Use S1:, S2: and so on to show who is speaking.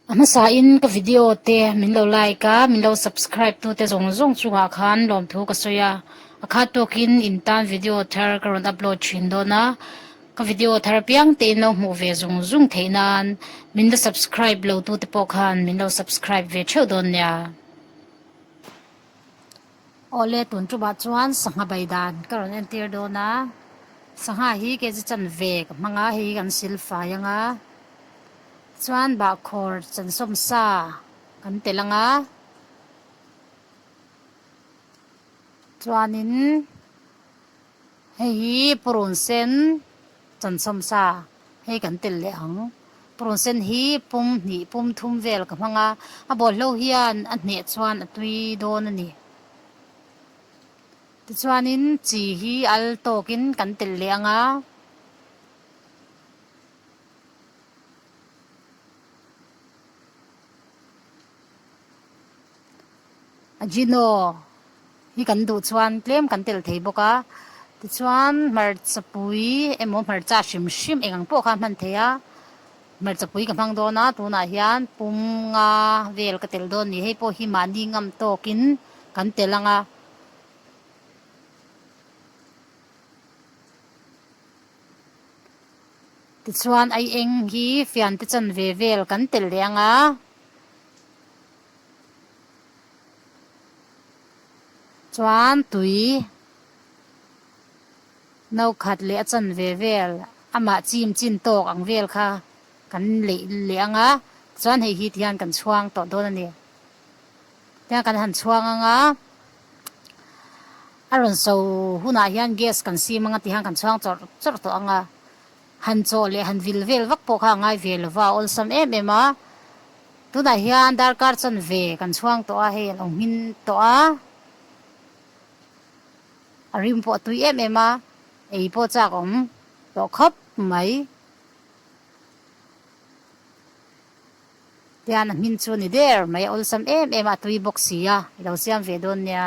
S1: A hmasa in ka video te min lo like a, min lo subscribe tu te zawng zawng chungah khan lawmthu ka sawi a. A khat tawk in in tan video thar ka rawn upload thin dawn a. Ka video thar piang te in lo hmuh ve zung zung theih nan min la subscribe lo tu te pawh khan min lo subscribe ve theuh dawn nia. Awle tun tumah chuan sangha bai dan ka rawn entir dawn a, sangha hi kg chanve ka hmanga hi kan sil fai anga, chuan bahkhawr chansawm sa kan telh anga, chuanin. Hei hi purun sen chanchawm sa hei kan tel leh ang. Purun sen hi pum hnih pum thum vel ka hmang a, a bawlhlo hian a hneh chuan a tui dawn a ni. Tichuanin chi hi al tawkin kan tel leh ang a. a Gino hi kan duh chuan tlem kan tel thei bawk a, tichuan hmarcha pui emaw hmarcha hrim hrim eng ang pawh kha a hman thei a, hmarcha pui ka hmang dawn a, tunah hian pum nga vel ka tel dawn a ni, hei pawh hi mahni ngam tawkin kan tel ang a. Tichuan aieng hi fiante chanve vel kan tel leh ang a. Chuan tui no khat leh a chawn ve vel amah chim chin tawk ang vel kha kan leih leh ang a, chuan hei hi ti hian kan chhuang tawh dawn a ni. Tichuan kan han chhuang ang a, a rawn so hunah hian gas kan sim ang a ti hian kan chhuang chawrh chawrh tawh ang a. Han chaw leh han vil vel vak pawh kha a ngai ve lo va, awlsam em em a. Tunah hian darkar chuan ve kan chhuang tawh a, hei a lo hmin tawh a. A rim pawh a tui em em a, ei pawh chak awm tawh khawp mai. Tian a hmin chu a ni der mai a, awlsam em em a, a tui bawk si a, i lo siam ve dawn nia.